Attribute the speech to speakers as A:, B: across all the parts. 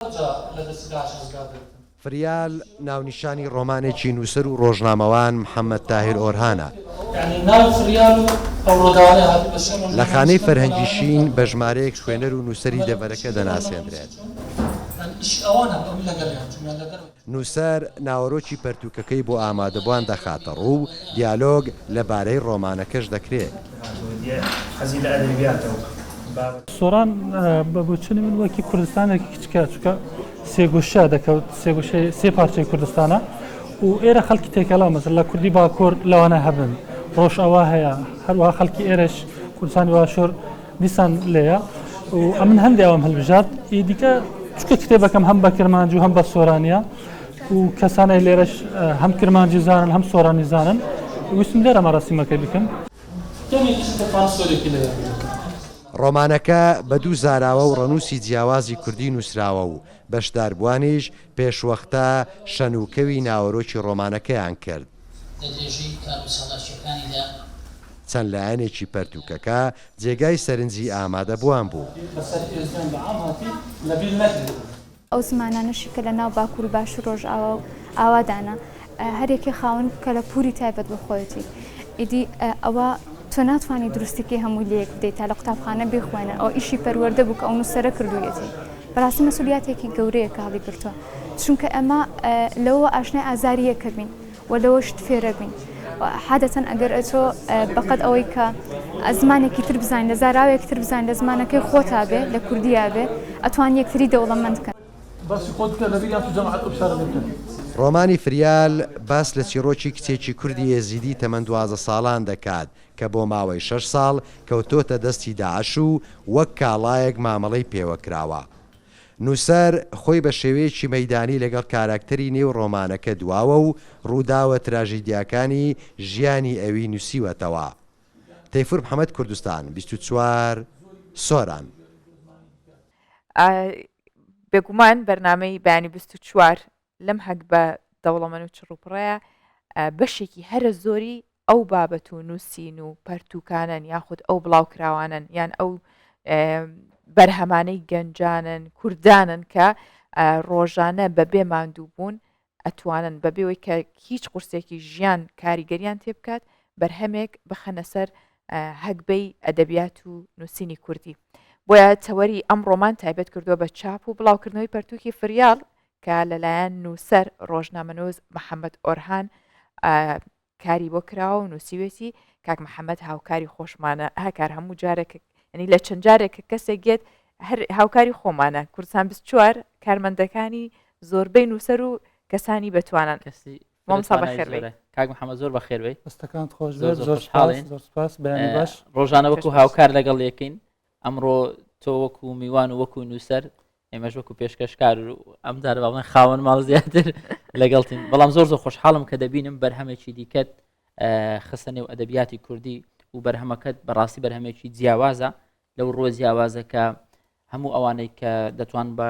A: جار لە دەسیدا ڕزگار بێت. فریال ناونیشانی ڕۆمانێکی نووسەر و ڕۆژنامەوان محەمەد تاهیر ئۆرهانە. لە خانەی فەرهەنگی شین بە ژمارەیەک خوێنەر و نووسەری دەڤەرەکە دەناسێندرێت. نووسەر ناوەرۆکی پەرتووکەکەی بۆ ئامادەبووان دەخاتەڕوو و دیالۆگ لەبارەی ڕۆمانەکەش دەکرێت. سۆران، بە بۆچوونی من وەکی کوردستانێکی کچکە، چونکە سێگۆشە دەکەوت، سێگۆشە سێ پارچەی کوردستانە و ئێرە خەڵکی تێکەڵە، مەسەلەن کوردی باکوور لەوانە هەبن، ڕۆژئاوا هەیە، هەروەها خەڵکی ئێرەش، کوردستانی باشوور، دیسان لێیە و ئەمن هەندێ ئەوم هەلبژارد ئی دیکە چکە کتێبەکەم هەم بە کرمانج و هەم بە سۆرانیا و کەسانەی لێرەش هەم کرمانجی زانن هەم سۆرانی زانن ویستم لێرە مەرەسیمەکەی بکەم ڕۆمانەکە بە دوو زاراوە و ڕەنووسی جیاوازی کوردی نووسراوە و بەشداربووانیش پێشوەختە شەن و کەوی ناوەرۆکی ڕۆمانەکەیان کرد. لە درێژەی کارو چالاکیەکانیدا. چەند لایەنێکی پەرتووکەکە جێگای سەرنجی ئامادەبووان بوو. بەسەر ئێزدیان بەعام هاتی لەبیر نەکرێت. ئەو زمانانەشی کە لە ناو باکور و باشور رۆژئاوا و ئاوادانە هەر یەکەی خاوەن کەلە پوری تایبەت بە خۆیەتی ئیدی ئەوە تۆ ناتوانی دروستی کەی هەمووی لەیەک بدەی تا لە قوتابخانە بیخوێنن ئەوە ئیشی پەروەردە بوو کە ئەو نوسەرە کردویەتی. بەراستی مەسولیاتێکی گەورەیە کە هەڵیگرتوە چونکە ئەمە لەوە ئاشنای ئازاری یەکەبین و لەوە شت فێرەبین حادەتەن ئەگەر ئەچۆ بەقەت ئەوەی کە ئەزمانێکی تر بزانین لە زاراوێک تر بزانین لە زمانەکەی خۆتا بێ لە کوردیا بێ ئەتوان یەکتری دەوڵەمەند کە باسی خۆت بکە لەبیر یان تو جەماعەت ئەو فشارە لێبکەن. ڕۆمانی فریال باس لە چیڕۆکی کچێکی کوردی ئێزیدی تەمەن دوازدە ساڵان دەکات کە بۆ ماوەی شەش ساڵ کەوتۆتە دەستی داعش و وەک کاڵایەک مامەڵەی پێوە کراوە. نووسەر خۆی بە شێوەیەکی مەیدانی لەگەڵ کاراکتەری نێو ڕۆمانەکە دواوە و ڕووداوە تراژیدیاکانی ژیانی ئەوی نووسیوەتەوە. تەیفور محەمەد کوردستان بیست و چوار سۆران. ئا بێگومان بەرنامەی بەیانی بیست و چوار لەم حەگبە دەوڵەمەن و چڕوپڕەیە بەشێکی هەرە زۆری ئەو بابەت و نووسین و پەرتوکانن یاخود ئەو بڵاوکراوانن یان ئەو بەرهەمانەی گەنجانن کوردانن کە ڕۆژانە بەبێ ماندوو بوون ئەتوانن بەبێەوەی کە هیچ قورسێکی ژیان کاریگەریان تێ بکات بەرهەمێک بخەنە سەر هەگبەی ئەدەبیات و نووسینی کوردی بۆیە تەوەری ئەم ڕۆمان تایبەت کردووە بە چاپ و بڵاوکردنەوەی پەرتووکی فریاڵ کە لەلایەن نووسەر ڕۆژنامەنووس محەممەد ئۆرهان کاری بۆ کراوە و نووسیوێتی کاک محەممەد هاوکاری خۆشمانە هەکار هەموو جارێک ینی لە چەند جارێک کە کەسێک گێت هەر هاوکاری خۆمانە کوردستان چوار کارمەندەکانی زۆربەی نووسەر و کەسانی بەتوانان کەسی کاک محەممە زۆر بەخێروێ ئەستەکان خۆش زۆر زۆر حاڵێن زۆر سپاس باش ڕۆژانە وەکو هاوکار لەگەڵ یەکەین ئەمڕۆ تۆ وەکو میوان و وەکو نووسەر ئێمەش وەکو پێشکەشکار و ئەم جارە باڵێن خاوەن ماڵ زیاتر لەگەڵتین بەڵام زۆر زۆر خۆشحاڵم کە دەبینم بەرهەمێکی دیکەت خستە نێو ئەدەبیاتی کوردی و بەرهەمەکەت بەڕاستی بەرهەمێکی جیاوازە لەو ڕۆ جیاوازەکە هەموو ئەوانەی کە دەتوان بە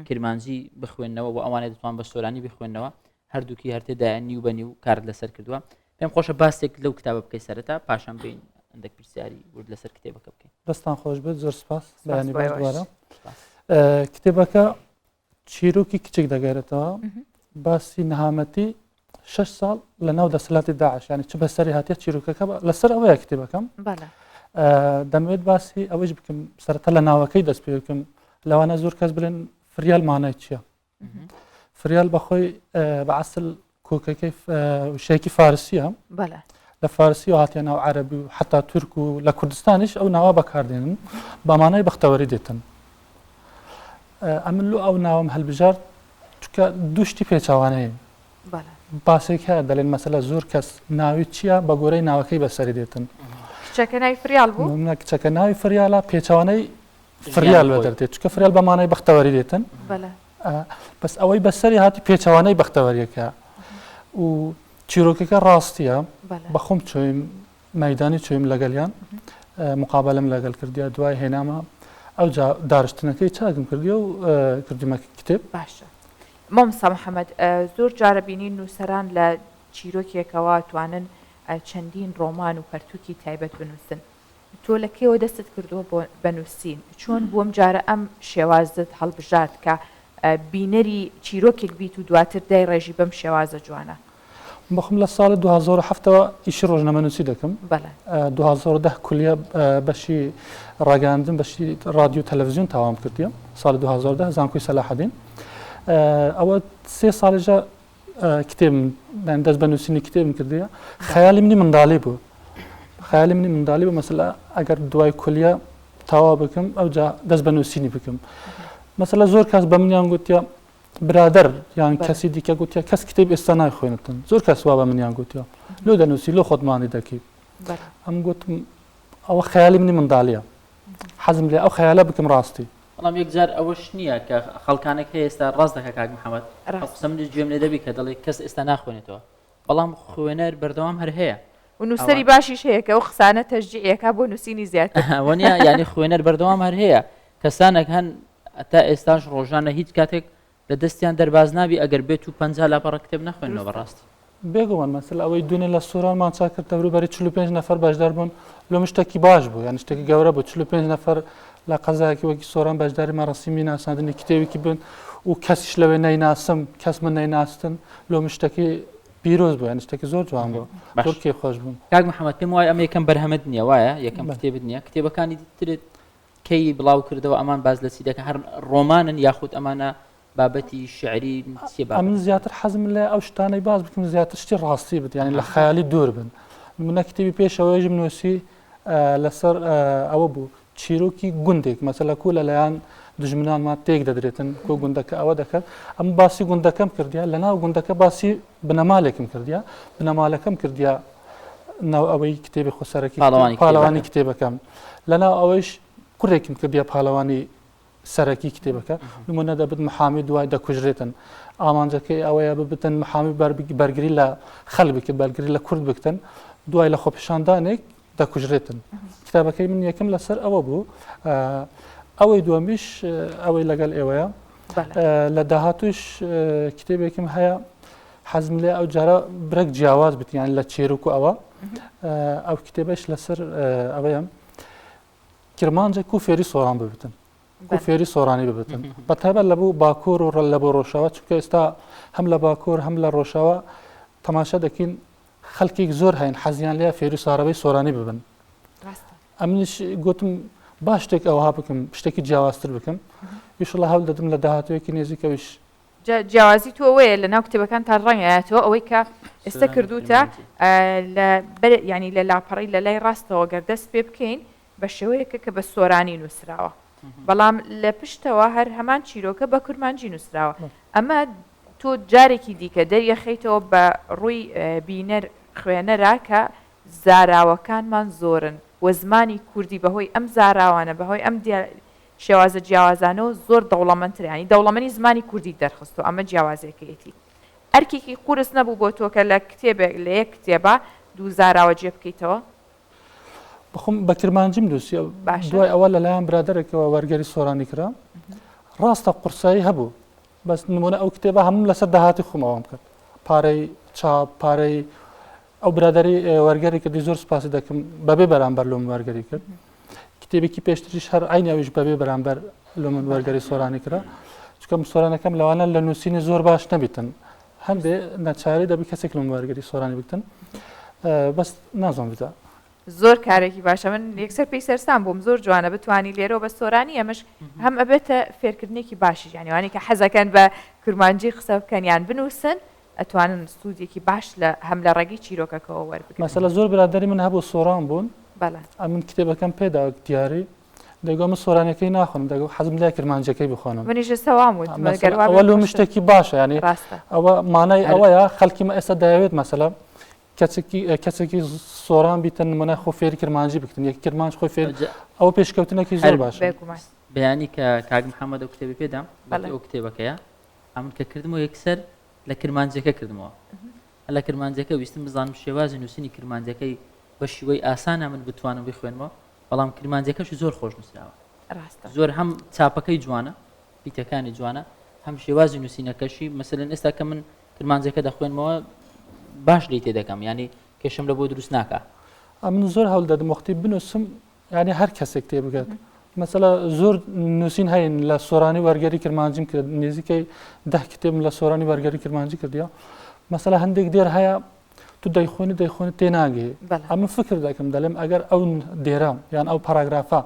A: کرمانجی بخوێندنەوە و ئەوانەی دەتوان بە سۆرانی بخوێندنەوە هەردووکی هەرتێدایە نیو بە نیو کارت لەسەر کردووە پێم خۆشە باسێک لەو کتابە بکەی سەرەتا پاشان بین ئەندێک پرسیاری ورد لەسەر کتێبەکە بکەین دەستان خۆش بێت زۆر سپاس بەیانی باش دوارە کتێبەکە چیرۆکی کچێک دەگەێتەوە باسی نەهامەتی شش ساڵ لە ناو دەسەلاتی داعشانی چ بەسەری هااتە چیرروکەکە لەسەر ئەوەیە کتێبەکەم دەمەوێت باسی ئەوەیش بکەم سەرەتا لە ناوەکەی دەست پێ بکەم لەوانە زۆر کەس بلێن فریال مانای چییە فریال بەخۆی بە عسل کۆکەکەی شێکی فارسیە لە فارسی و هاتیە ناو عەربی و حتا تورک و لە کوردستانیش ئەو ناوە بەکاردێنن بەمانای بەختەوەری دێتن ئەمن لۆ ئەو ناوم هەلبژارد چکە دوشتی پێچوانەیە باسێک هەیە دەلێن مەسەلە زۆر کەس ناوی چییە بە گۆرەی ناوەکەی بەسەری دێتن کچەکە ناوی فریال بوو کچەکە ناوی فریالە پێچوانەی فریال لە دەردێت چکە فریال بە مانای بەختەوەری دێتن بەس ئەوەی بەسەری هاتی پێچەوانەی بەختەوەریەکە و چیرۆکەکە ڕاستیە بەخۆم چۆیم مەدانی چۆیم لەگەلیان مقابلم لەگەل کردیا دوای هێنامە ئەو دارشتنەکەی چاکم کردی و کردیمە کتێب باشە مامسا محەممەد زۆر جارە بینین نووسەران لە چیرۆکێکەوە توانن چەندین ڕۆمان و پەرتووکی تایبەت بنووسن تۆ لە کەیەوە دەستت کردووە بۆ بە نووسین؟ چۆن بۆم جارە ئەم شێوازەت هەڵبژارد کە بینەری چیرۆکێک بیت و دواتر دای ڕێژی بەم شێوازە جوانە؟ بەخۆم لە ساڵی دوو هەزار و حەفت ەوە ئیشی ڕۆژنامەنووسی دەکەم. بەڵێ. دوو هەزار و دە کولیە بەشی ڕاگەیاندن بەشی ڕادیو تەلەڤزیۆن تاوام کردیە. ساڵی دوو هەزار و دە زانکۆی سەلاحەدین. ئەوە سێ ساڵێژە کتێبم یان دەست بە نووسینی کتێبم کردیە خەیالی منی منداڵی بوو خەیالی منی منداڵی بوو مەسەلا ئەگەر دوای کولیە تاوا بکەم ئەو جا دەست بە نووسینی بکەم مەسەلا زۆر کاس بە منیان گوتیە برادر یان کەسی دیکە گوتیە کەس کتێب ئێستا نایخوێنتن زۆر کەس وا بە منیان گوتیە لۆ دەنووسی لۆ خۆتمانی دەکەیت ئەم گوتم ئەوە خەیالی منی منداڵیە حەزم لێ ئەو خەیالە بکەم ڕاستی بەڵام یەک جار ئەوەش نییە کە خەڵکانێک هەیە ئێستا ڕاست دەکە کاک محەمەد ئەو قسە منیش گوێم لێ دەبی کە دەڵێ کەس ئێستا ناخوێنێتەوە بەڵام خوێنەر بەردەوام هەر هەیە و نووسەری باشیش هەیە کە ئەو قسانە تەشجیعی ئەکا بۆ نووسینی زیاتر ئەوە نییە یانی خوێنەر بەردەوام هەر هەیە کەسانێک هەن تا ئێستاش ڕۆژانە هیچ کاتێک لە دەستیان دەرباز نابی ئەگەر بێت و پەنجا لاپەڕە کتێب نەخوێننەوە بە ڕاستی. بێگومان مەسەلە ئەوەی دوێنێ لە سوران مانچا کرد دەوروبەری چل و پێنج نەفەر بەشدار بوون لۆمە شتێکی باش بوو یان شتێکی گەورە بوو چل و پێنج نەفەر لە قەزایەکی وەکی سۆران بەشداری مەرەسیمی ناساندنی کتێوێکی بن و کەسیش لەوێ نەیناسم کەس من نەیناستن لۆمە شتێکی پیرۆز بوو یان شتێکی زۆر جوان بوو باش. تورکی خۆش بوو کاک محەممەد پێم وایە ئەمە یەکەم بەرهەمت نییە وایە یەکەم بەڵێ. کتێبت نییە کتێبەکانی ترت کەی بڵاو کردەوە ئەمان باز لە چی دەکە هەر ڕۆمانن یاخود ئەمانە بابەتی شعری چی بە من زیاتر حەزم لە ئەو شتانەی باز بکەم زیاتر شتی ڕاستی بێت یعنی لە خەیالی دوور بن منە کتێبی پێشەوەیژم نووسی لەسەر ئەوە بوو چیرۆکی گوندێک مەسەلە کو لەلایەن دژمنانمان تێک دەدرێتن کۆ گوندەکە ئەوە دەکرد ئەم باسی گوندەکەم کردیا لە ناو گوندەکە باسی بنەمالێکم کردیە بنەمالەکەم کردیە ناو ئەوەی کتێبی خۆسەرەکی پاڵەوانی کتێبەکەم لەناو ئەوەیش کوڕێکم کردیە پاڵەوانی سەرەکی کتێبەکە نمونە دەبت محامی دوای دەکوژرێتن ئامانجەکەی ئەوەیە ببتن محامی بەرگری لە خەل بکە بەرگری لە کورد بکتن دوای لە خۆپیشاندانێک دەکوژرێتن کتابەکەی من یەکەم لەسەر ئەوە بوو ئەوەی دووەمیش ئەوەی لەگەل ئێوەیە لە داهاتوش کتێبێکم هەیە حەزم لێ ئەو جارە برەک جیاواز بتیان لە چێرک و ئەوە ئەو کتێبش لەسەر ئەوەیە کرمانجێک و فێری سۆران ببتن و فێری سۆرانی ببتن بە تایبەت لە بوو باکۆر و ڕەل لە بۆ ڕۆژەوە چونکە ئێستا هەم لە باکۆر هەم لە ڕۆژەوە تەماشا دەکەین خەلکیک زۆر هەین حەزیان لێ فێری ساڕەوەی سۆرانی ببن ئەمنیش گوتم با شتێک ئەوها بکەم شتێکی جیاوازتر بکەم یشڵە هەول دەدم لە داهاتوەیەکی نێزیکەویش جیاوازی تۆوەیە لە ناو کتێبەکان تا ڕەنگایەتەوە ئەوەی کە ئێستا کردوتە ینی لە لاپەڕی لە لای ڕاستەوە گەردەست پێ بکەین بە شێوەیەکە کە بە سۆرانی نووسراوە، بەڵام لە پشتەوە هەر هەمان چیرۆکە بە کورمانجی نووسراوە. ئەمە تۆ جارێکی دیکە دەریەخەیتەوە بە ڕووی بینەر، خوێنەرا کە زاراوەکانمان زۆرن و زمانی کوردی بە هۆی ئەم زاراوانە، بە هۆی ئەم شێوازە جیاوازانەوە زۆر دەوڵەمەندترە. یانی دەوڵەمەنی زمانی کوردیت دەرخستووە، ئەمە جیاوازییەکەیەتی. ئەرکێکی قورس نەبوو بۆ تۆ کە لە کتێبێک، لە یەک کتێبا دوو زاراوە جێ بکەیتەوە؟ بخۆم بە کرمانجیم نووسی دوای ئەوە لەلایەن برادێکەوە وەرگەری سۆرانی کرا ڕاستە قورسایی هەبوو بەس نمونە ئەو کتێبە هەم لەسەر داهاتی خۆمەوەم کرد پارەی چاپ پارەی ئەو برادری وەرگەری کردی زۆر سپاسی دەکەم بەبێ بەرامبەر لۆم وەرگەری کرد کتێبێکی پێشتریش هەر ئاینەویش بەبێ بەرامبەر لۆ من وەرگەری سۆرانی کرا چکەم سۆرانەکەم لەوانە لە نووسینی زۆر باش نەبیتن هەندێ ناچاری دەبی کەسێک لەم وەرگری سۆرانی بکتن بەس نازان بدا زۆر کارێکی باشە من یەکسەر پێی سەرسان بووم زۆر جوانە بتانی لێرۆ بە سۆرانی ئەمش هەم ئەبێتە فێرکردنێکی باشی یانیوانی کە حەزەکەن بە کورمانجی قسە بکەنیان بنووسن ئەتوانن سوودێکی باش لە هەم لە ڕێگی چیرۆکەکەەوە وەربگەسە لە زۆر برادری من هەبوو سۆران بوون ئەمن کتێبەکەم پێدا دیاری بێگومان من سۆرانیەکەی ناخۆم دەگو حەزم لای کرمانجەکەی بخۆنم منیش ئێستا وام وت مەسەلەن گەر وا بێ ئەوە لۆ خۆشتر. مشتێکی باشە یعنی ڕاستە ئەوە مانای هەر- ئەوەیە خەڵکی مە ئێستا دەیەوێت مەسەلە کەچێکی ئە، کەسێکی سۆران بیتە نمونە خۆ فێری کرمانجی بکتن یەکی کرمانج خۆی فێر جا ئەوە پێشکەوتنێکی زۆر هەر باشە بێگومان بەیانی کە کاک محەممەد ئەو کتێبی پێدام بەڵێ گوتی ئەو کتێبەکەیە ئەمن کە کردمەوە یەکسەر لە کرمانجەکە کردمەوە هەر لە کرمانجەکە ویستم بزانم شێوازی نووسینی کرمانجەکەی بە شیوەی ئاسانە من بتوانم بیخوێنمەوە بەڵام کرمانجەکەشی زۆر خۆش نووسراوە ڕاستە زۆر هەم چاپەکەی جوانە پیتەکانی جوانە هەم شێوازی نووسینەکەشی مەسەن ئێستا کە من کرمانجەکە دەخوێنمەوە باش لی تێ دەکەم ینی کێشم لە بۆ دروست ناکە ئەمن زۆر هەول دەدم وەختی بنووسم ینی هەر کەسێک تێ بگات مەسەلا زۆر نووسین هەین لە سۆرانی وەرگەری کرمانجیم کرد نزیکەی ده کتێبم لە سۆرانی وەرگەری کرمانجی کردیا مەسەلا هەندێک دێر هەیە تو دەیخۆنی دەیخۆنی تێناگەی ئەمە فکر دەکەم دەلێم ئەگەر ئەو دێرە یان ئەو پاراگرافە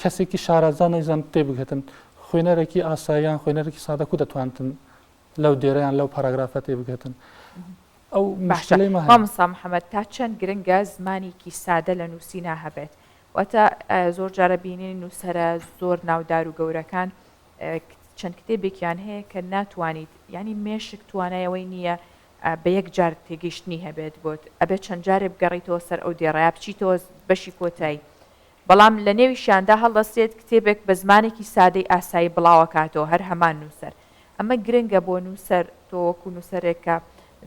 A: کەسێکی شارەزان و زان تێ بگەتن خوێنەرەکی ئاساییان خوێنەرەکی سادەکو دەتوانتن لەو دێرەیان لەو پاراگرافە تێ بگەتن. ئەو ماشلەی مامسا محەممەد تا چەند گرنگە زمانێکی سادە لە نووسینا هەبێت واتە زۆر جارە بینین نووسرە زۆر ناودار و گەورەکان چەند کتێبێکیان هەیە کە ناتوانیت ینی مێشک توانایەوەی نییە بە یەک جار تێگەیشتنی هەبێت بۆت ئەبێت چەند جارێ بگەڕێیتەوە سەر ئەو دێڕەیا بچیتەوە بەشی کۆتای بەڵام لە نێویشیاندا هەڵدەستێت کتێبێک بە زمانێکی سادەی ئاسایی بڵاوەکاتەوە هەر هەمان نووسەر ئەمە گرنگە بۆ نووسەر تۆ وەکو نووسەرێک کە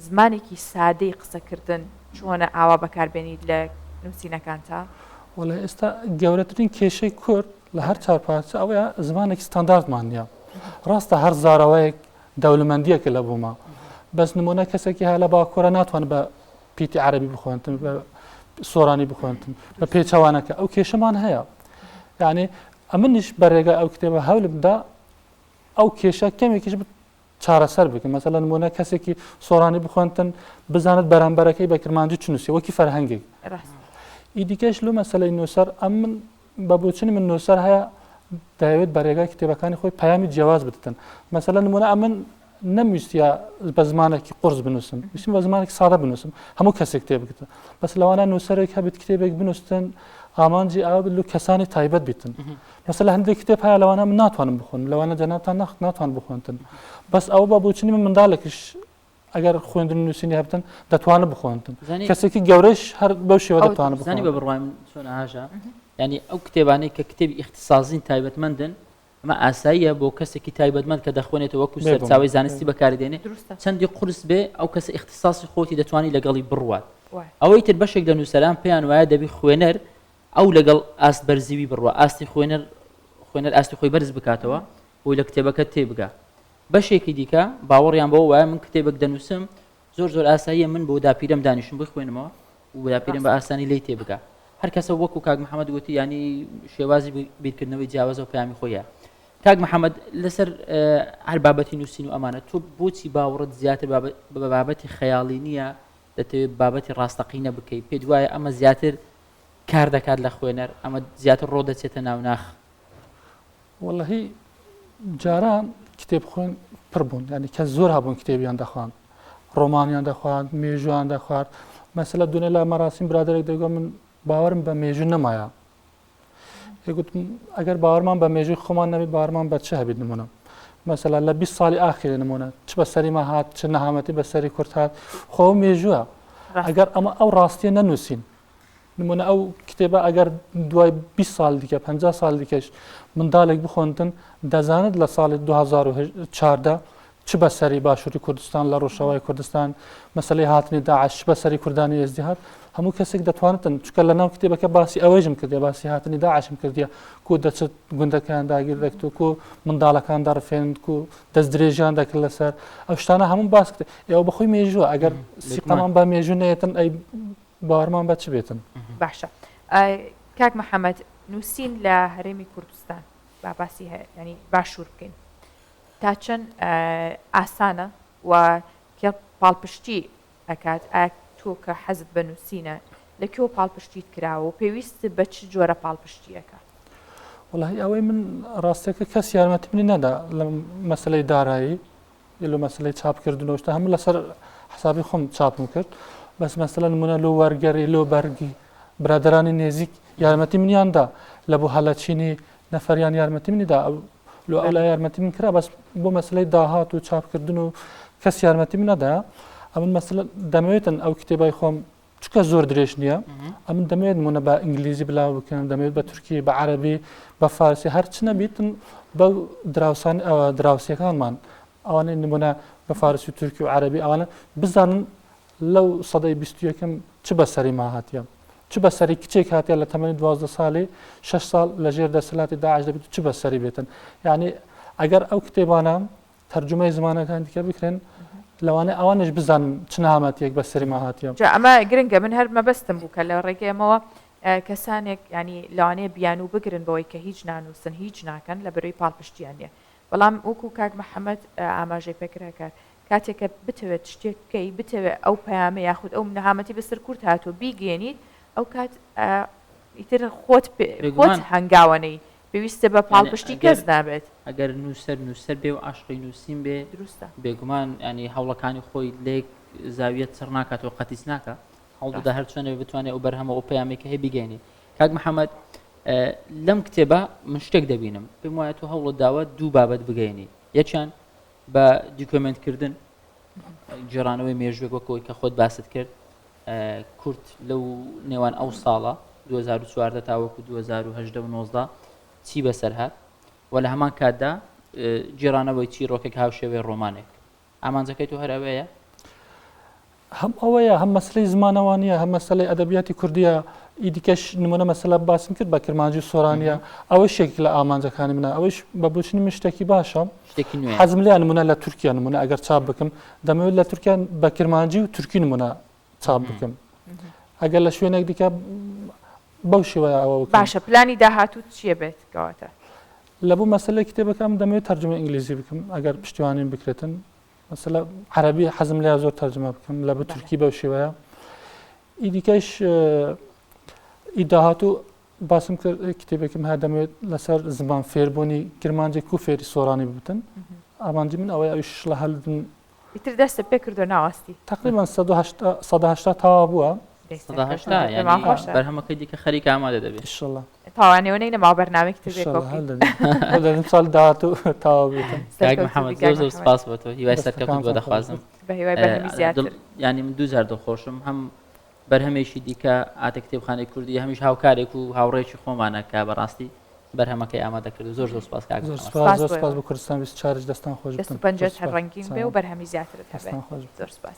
A: زمانێکی سادەی قسەکردن چۆنە ئاوا بەکاربێنیت لە نووسینەکانتا؟ وەڵێ ئێستا گەورەترین کێشەی کورد لە هەر چوار پارچە ئەوەیە زمانێکی ستانداردمان نییە ڕاستە هەر زاراوەیەک دەولمەندیەکە لە بوومە بەس نمونە کەسێکی هە لە باکوورە ناتوان بە پیتی عربی بخوێنتن بە سۆرانی بخوێنتن بە پێچوانەکە ئەو کێشەمان هەیە یعنی ئەمنیش بەرێگە ئەو کتێبە هەولمدا ئەو کێشە کەمێکیش چارەسەر بکە مەسەلەن مۆنە کەسێکی سۆرانی بخوێنتن بزانت بەرامبەرەکەی بە کرمانجی چنووسی وەکی فەرهەنگێک ئیدیکەش لو مەسلەی نووسەر ئەم من بە بۆچونی من نووسەر هەیە دەیەوێت بە ڕێگای کتێبەکانی خۆی پەیامی جیاواز بدتن مەسەلە نمونە ئەمن نەمویستە بە زمانێکی قرس بنووسم ویسم بە زمانێک ساڵە بنووسم هەموو کەسێک کتێب بکە بەس لەوانە نووسەرێک هەبێت کتێبێک بنووسن ئامانجی ئاو بلو کەسانی تایبەت بیتن مەسەل هەندێک کتێب هەیە لەوانە من ناتوانم بخۆن لەوانە جەناتان نەخت ناتوان بخۆنتن بەس ئەو بە بۆچنی من منداڵێکش ئەگەر خوێندن نووسینی هەبتن دەتوانن بخۆنتن کەسێکی گەورەش هەر بەو شێوە دەتوانن بزانانی بە بڕوایم چۆن ئاژە ینی ئەو کتێبانەی کە کتێبی ئیختصازین تایبەتمەندن ئەمە ئاساییە بۆ کەسێکی تایبەتمەند کە دەخوێنێتەوە وەکو سەرچاوی زانستی بەکاردێنێ چەندی قرس بێ ئەو کەسە ئیختصاسی خۆتی دەتوانانی لەگەڵی بڕوات ئەوەی تر بەشێک لە نووسەران پێیان وایە دەبی خوێنەر ئەو لەگەڵ ئاست بەرزیی بڕوا ئاستی خوێنەر خوێنەر ئاستی خۆی بەرز بکاتەوە بۆی لە کتێبەکە تێبگا بەشێکی دیکە باوەڕیان بەوە وایە من کتێبێک دەنووسم زۆر زۆر ئاساییە من بۆ داپیرم دانیشم بۆی خوێنمەوە و داپیرم بە ئاسانی لی تێبگا هەر کەسە وەکو کاک محەممەد وتی ینی شێوازی بیرکردنەوەی جیاوازە و پامی خۆیە کاک محەممەد لەسەر هەر بابەتی نووسین و ئەمانە تۆ بۆچی باوەڕت زیاتر بە بابەتی خەیاڵی نییە دەتەوێت بابەتی ڕاستەقینە بکەیت پێت وایە ئەمە زیاتر کار دەکات لە خوێنەر ئەمە زیاتر ڕۆ دەچێتە ناو ناخ وەڵهی جاران کتێب خوێن پڕ بوون ینی کە زۆر هەبوون کتێبیان دەخواند ڕۆمانیان دەخوارد مێژوان دەخوارد مەسلە دونێ لا مەراسیم برادێک دەگۆ من باوەرم بە مێژوو نەمایە ئەگەر باوەرمان بە مێژوی خۆمان نەبێت بارمان بە چ هەبێت نمونە مەسەلا لە 20 ساڵی ئاخیرە نمونە چ بە سەریما هات چ نەهامەتی بە سەری کورت هات خۆ مێژووە ئەگەر ئەمە ئەو ڕاستیە نەنووسین نمونە ئەو کتێبە ئەگەر دوای 20 سال دیکە 50 سال دیکەش منداڵێک بخۆندن دەزانێت لە ساڵی 2014 چ بەسەری باشووری کوردستان لە ڕۆژەوای کوردستان مەسلەی هاتنی داعش بەسەری کوردانی ئێزدی هات هەموو کەسێک دەتوانتن چکە لە ناو کتێبەکە باسی ئەوەیژم کردی باسی هاتنی داعشم کردیە کو دەچێت گوندەکان داگیر دەکت و کو منداڵەکان دەڕفێند و دەست درێژیان دەکرد لەسەر ئەو شتانە هەموو باس کرد ئێوە بەخۆی مێژووە ئەگەر سیقامان بە مێژوو نێتن ئەی باوەڕمان بە چ بێتن؟ باشە کاک محەممەد نووسین لە هەرێمی کوردستان با باسی هەیە ینی باشوور بکەین تا چەند ئاسانە و کە پاڵپشتی ئەکات ئایا تۆ کە حەزت بە نووسینە لە کێوە پاڵپشتیت کراوە و پێویست بە چ جۆرە پاڵپشتیەکە وڵی ئەوەی من ڕاستەکە کەس یارمەتی منی نەدا لە مەسلەی دارایی لە مەسلەی چاپکردنەوە شتە هەموو لەسەر حسابی خۆم چاپم کرد بەس مەسلە نمونە لۆ وەرگەری لۆ بەرگی برادرانی نێزیک یارمەتی منیاندا لە بۆ هەلەچینی نەفەریان یارمەتی منیدا لۆ ئەو لە یارمەتی من کرا بەس بۆ مەسلەی داهات و چاپکردن و کەس یارمەتی منەدا ئەمن مەسل دەمەوێتن ئەو کتێبای خۆم چکە زۆر درێژ نییە ئەم دەمێت منە بە ئینگلیزی بلا بکەن دەمێت بە تورکی بە عربی بە فارسی هەرچ نەبیتن بە دراوسان ئەوە دراوسەکانمان ئەوانە نمونە بە فارسی تورکی و عربی ئەوانە بزانن لەو سەدەی بیستیەکەم چ بەسەری ما هااتە چ بەسەری کچێک هااتە لە تەمەنی دوازدە ساڵی 6 ساڵ لە ژێر دەسەلاتی داعش دەبێت چ بەسەری بێتن یعنی ئەگەر ئەو کتێبانە تەرجومەی زمانەکان دیکە بکرێن لەوانە ئەوانش بزان چنامەتێک بە سەرما هاتیە جا ئەمە گرنگە من هەر مەبەستم بوو کە لە ڕێگەیەمەوە کەسانێک ینی لەوانەیە بیانوو بگرن بەوەی کە هیچ نانووسن هیچ ناکەن لە بەروی پاڵپشتیان نیە بەڵام وەکو کاک محەممەد ئاماژەی پێکراکات کاتێکە بتەوێت شتێک بکەی بتەوێت ئەو پەیامە یاخود ئەو نەهامەتی بەسەر کورت هاتووە بیگەێنیت ئەو کات ئیتر خۆت خۆت هەنگاوانەی پێویستە بە یانی پاڵپشتی ئەگەر کەس نابێت ئەگەر نووسەر نووسەر بێ و عەشقی نووسین بێ دروستە بێگومان ینی هەوڵەکانی خۆی لێک زاویە چڕ ناکات و قەتیس ناکە هەوڵدەدا ڕاست هەر چۆنێ بتوانێت ئەو بەرهەمە ئەو پەیامێک هەیە بیگەێنی کاک محەممەد اه، لەم کتێبە من شتێک دەبینم پێم وایە تۆ هەوڵت داوە دوو بابەت بگەێنی یەکیان بە دیکۆمنتکردن گێڕانەوەی مێژوێک وەکەوەی کە خۆت باست کرد کورت لەو نێوان ئەو ساڵە 2014 تاوەکو 2019 چی بەسەر هات و لە هەمان کاتدا جێرانەوەی چی ڕۆکێک هاوشێوەی ڕۆمانێک ئامانجەکەی تۆ هەرەوەیە هەم ئەوەیە هەم مەسەلەی زمانەوانیە هەم مەسەلەی ئەدەبیاتی کوردیە ئی دیکەش نمونە مەسەلە باسم کرد بە کرمانجی و سۆرانیە ئەوەی شێک لە ئامانجەکانی منە ئەوەیش بە بۆچنی من شتێکی باشە حەزم لێ نمونە لە تورکیا نمونە ئەگەر چاپ بکەم دەمەوێت لە تورکیا بە کرمانجی و تورکی نمونە چاپ بکەم ئەگەر لە شوێنێک دیکە بەو شێوەیە ئەوە باشە پلانی داهاتوت چیە بێت کەواتە لە بۆ مەسلەی کتێبەکەم دەمەوێت تەرجمە ئینگلیزی بکەم ئەگەر پشتیوانیم بکرێتن مەسەلە عەرەبی حەزم لە زۆر تەرجمە بکەم لە بە تورکی بەو شێوەیە ئی دیکەش ئی داهاتوو باسم کرد کتێبێکم هەیە دەمێت لەسەر زمان فێربوونی کرمانجێک کو فێری سۆرانی ببتن ئامانجی من ئەوەی ئەوش لە هەلدن ئیتر دەستە پێ کردو ناواستی تقریبا 1970 تاوا بووە بەرهەمەکەی دیکە خەریک ئامادە دەبێت شڵە تاوانەوەی نەما بەرنامێک تر دەبێت ساڵ داهاتوو تاوا بێتم کاک محەممەد زۆر زۆر سپاس بۆ تۆ هیوای سەرکەوتن بۆ دەخوازم ینی من دوو جار دڵخۆشم هەم بەرهەمێکی دیکە ئاتە کتێبخانەی کوردی هەمیش هاوکارێک و هاوڕێکی خۆمانە کە بەڕاستی بەرهەمەکەی ئامادە کرد زۆر زۆر سپاس کاک زۆر سپاس زۆر سپاس بۆ کوردستان ویست چارج دەستان خۆش پنج هەر ڕنگین بێ و بەرهەمی زیاتر هەستان خۆش زۆر سپاس